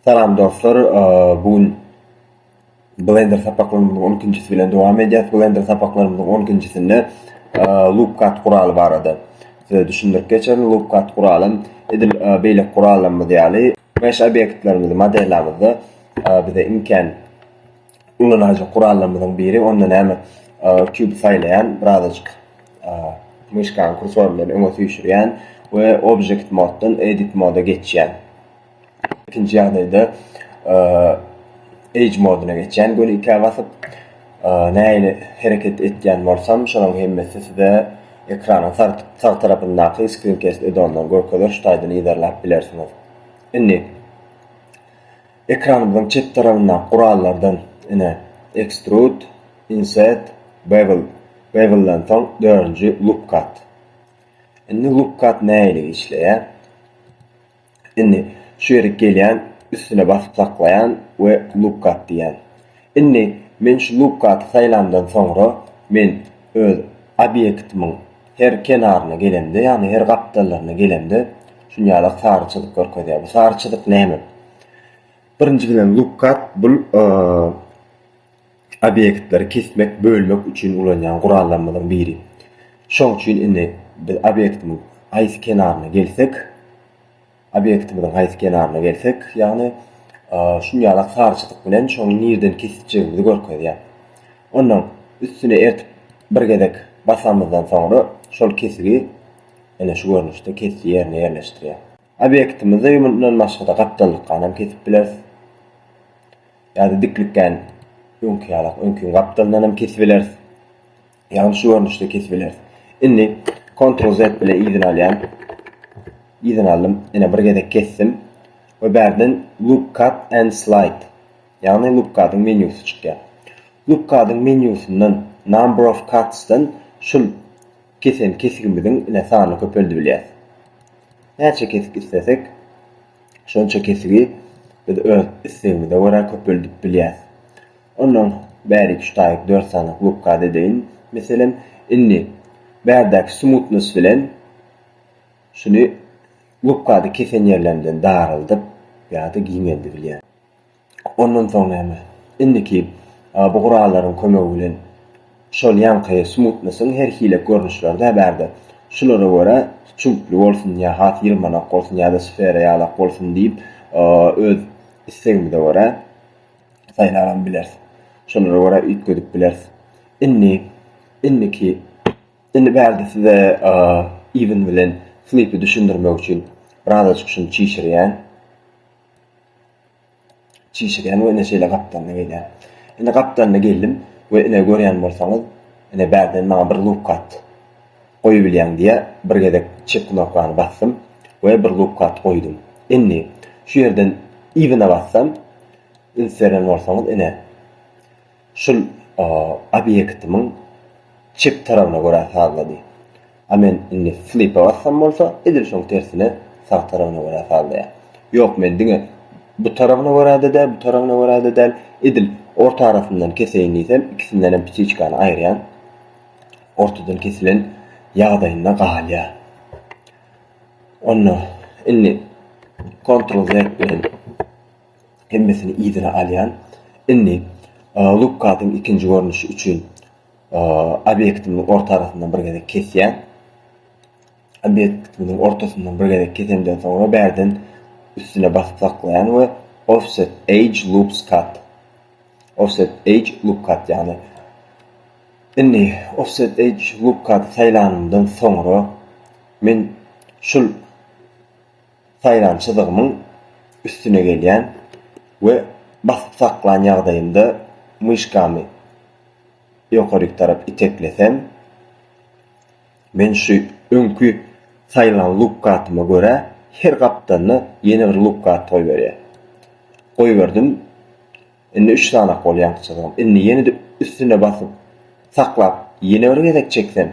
Salam dostlar, bu gün Blender sapaklarymyzyň on ikinjisi bilen dowam edýäs. Blender sapaklarymyzyň on ikinjisinde LoopCut guraly barada size düşündirip geçerin. LoopCut guraly edil beýleki gurallarymyz ýaly mesh obýektlerimizi modellamizde bize imkan ulanajak gurallarymyzyň biri. Onda näme kübi saýlaýan, birazajyk myşkanyň kursory bilen öňe süýşürýän we object moddan edit moda geçýän. Ikinji ýagdaýda Age moduna geçýän göni ikä basyp, nähili hereket etýän bolsam, şolaryň hemmesi size ekranyň sag tarapyndaky Screencast edondan görkezer şu taýdan yzarlap bilersiňiz. Indi ekranymyzyň çep tarapyndaky gurallardan ine Extrude, Inset, Bevel, Bevelden soň dördünji Loop Cut. Indi Loop Cut nähili işleýär? Indi, şu ýerik gelýän, üstüne basyp saklaýan we Lookkat diýýän. Indi, men şu Lookkaty saýlamdan soňra, men öz obýektimiň her kenaryna gelemde, ýagny her gapdallaryna gelemde, şunýalak sary çyzyk görkezýär. Bu sary çyzyk näme? Birinji bilen Lookkat bul Obýektleri kesmek, bölmek üçin ulanýan gurallarymyzyň biri. Şoň üçin indi biz obýektimiň haýsy kenaryna gelsek, obýektimiziň haýsy kenaryna gelsek, ýagny şun ýalak sary çyzyk bilen şoňy nireden kesijegimizi görkezýär. Onnoň üstüne ertip bir gezek basamyzdan soňra şol kesigi ine şu görnüşde kesiji ýerine ýerleşdirýär. Obektimizi mundan başga-da gapdallykanam kesip bileris. Ýa-da diklikgän öňki ýalak öňki gapdalyndanam kesip bileris. Ýagny şu görnüşde kesip bileris. Indi Ctrl Z bilen yzyny alýan. Yzyny aldym. Ine bir gezek kesdim. We bärden Loop Cut and Slide. Ýagny Loop Cut-yň menýusy çykýar. Loop Cut-yň menýusyndan Number of Cuts-dan şul Kesel kesigimiziň ine sanyny köpeldip bilýäs. Näçe kesik islesek, şonça kesigi biz öz islegimize görä köpeldip bilýäs. Ondan bäri iki-üç taýyk dört sany wykgat edeýin. Meselem, indi bärdäki smutnost bilen şuny wykgady kesen ýerlerimden daraldyp ýa-da giňeldip bilýän. Ondan soň näme? Indiki bu gurallaryň kömegi bilen şol ýaňky smutnosyň her hile görnüşleri-dä bärde. Şulara görä çüňkli bolsun ýa has ýylmanak bolsun ýa-da sfera ýalak bolsun diýip öz islegimize görä saýlabam bileris. Şolara görä üýtgedip bileris. Indi indiki indi bärde size Even bilen Flipi düşündirmek üçin birazajyk şuny çişirýän. Çişirýän we ine şeýle gapdalda gelýän. Ine gapdalda geldim we ine görýän bolsaňyz, ine bärden maňa bir lupkat goýubilýäň diýýä. Bir gezek çep knopkany basdym we bir lupkat goýdum. Indi şu ýerden yzyna bassam, üns berýän bolsaňyz, ine. Şul obýektimiň çep tarabyna görä sazlady. A men indi flipa bassam bolsa edil şoň tersine sag tarabyna görä sazlaýar. Ýok men diňe bu tarabyna görä-de däl, bu tarabyna görä-de däl, edil orta arasyndan keseýin diýsem ikisindenem ptiçkany aýyrýan. Ortadan kesilen ýagdaýynda galýar. Onda indi kontrol Z bilen. hemmesini yzyna alýan. Indi Lukkasyň ikinji görnüşi üçin obýektimiň orta arasyndan bir gezek kesýän. Obýektimiň ortasyndan bir gezek kesemden soňra bärden üstüne basyp saklaýan we offset edge loops cut. Offset edge loop cut ýagny indi offset edge loop cut saýlanymdan soňra men şul Saýlançydygymyň üstüne gelýän we basyp saklan ýagdaýymda myşkamy ýokaryk tarap iteklesem, men şu öňki saýlan lukgatyma görä her gapdalna ýene bir lukgat goýberýär. Goýberdim. Indi üç sanak boldy ýaňkyçydygym. Indi ýene-de üstüne basyp saklap ýene bir gezek çeksem.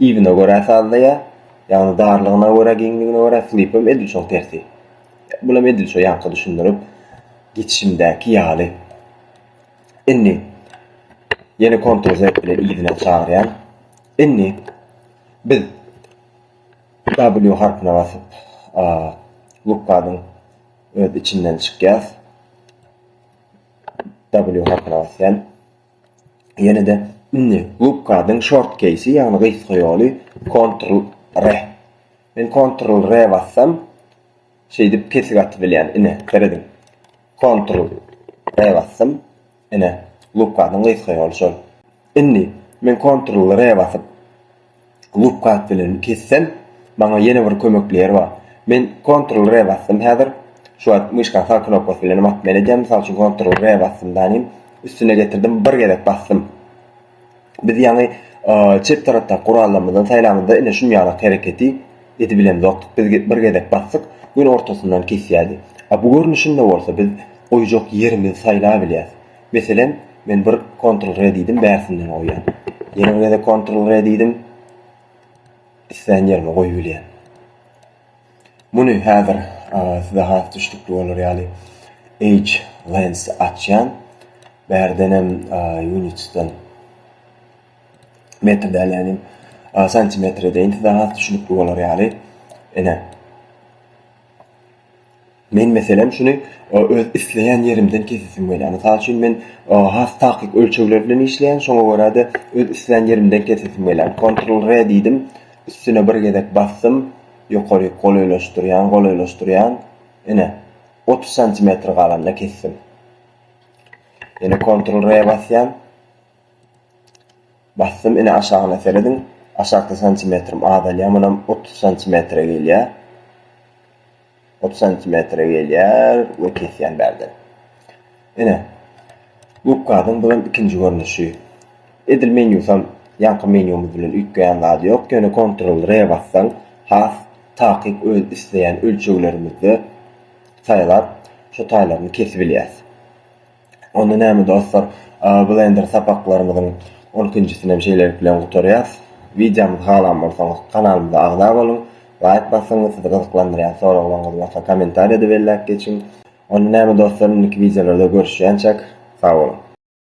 Ibine görä sazlaýar. Ýagny darlygyna görä, giňligine görä slipem edil şoň tersi. Bulam edil şo ýaňky düşündirip geçişimdäki ýaly. Indi ýene Ctrl Z bilen yzyna çagyrýan. Indi biz W harpyna basyp lukgadyň öz içinden çykýas. W harpyna basýan. Ýene-de indi Gubkadyň short keýsi, ýagny gysga ýoly Ctrl re. Men Ctrl re bassam, şeýdip kesik atyp bilýän. Ine, serediň. Ctrl re basdym. Ine, Gubkadyň gysga ýoly şol. Indi men Ctrl re basyp, Loop kat bilen kessem maňa ýene bir kömekli ýer bar. Men Ctrl R basdym häzir. Şu wagt myşka sag knopkasy bilen hem atmaýan edýän. Mysal üçin Ctrl R basdym däniň üstüne getirdim bir gezek basdym. Biz ýaňy çep tarapdaky gurallarymyzdan saýlamyzda ine şun ýalak hereketi edip bilemzokdyk. Biz bir gezek basdyk gün ortasyndan kesýärdi. A bu görnüşinde bolsa biz goýjak ýerimizi saýlap bilýäs. Meselem, men bir Ctrl-R diýdim, bärsinden goýýan. Ýene bir gezek Ctrl-R diýdim. Islän ýerime goýup bilýän. Muny häzir size has düşnükli bolar ýaly Edge Lens açýan. Bärdenem Unitsden metr däl ýagny santimetr edeýin size has düşnükli bolar ýaly. Ine. Men, meselem, şuny öz isleýän ýerimden kesesim gelýär. Mysal üçin, men has takyk ölçegler bilen işleýän, şoňa görä-de öz islän ýerimden kesesim gelýär. Kontrol R diýdim, üstüne bir gezek basdym, ýokaryk golaýlaşdyrýan, golaýlaşdyrýan, ine, otuz santimetr galanda kesdim. Ýene kontrol R basýan. Basdym ine aşagyna serediň aşakda santimetrim azalýar munam otuz santimetre gelýär otuz santimetre gelýär we kesýän bärden ine gubkadyň bu hem ikinji görnüşi edil menýusam ýaňky menýumyz bilen üýtgeýän zady ýok ýöne kontrol re bassaň has takyk öz isleýän ölçeglerimizde saýlap şo taýlaryny kesibilýäs. Onda näme dostlar, Blender sapaklarymyzyň on ikinjisini hem şeýlelik bilen gutarýarys. Wideomyzy halan bolsaňyz kanalymyza agza boluň, laýk basyň, sizi gyzyklandyrýan soraglaryňyz bolsa kommentariýada belläp geçiň. Onda näme dostlar, indiki wideolarda görüşýänçäk, sag boluň!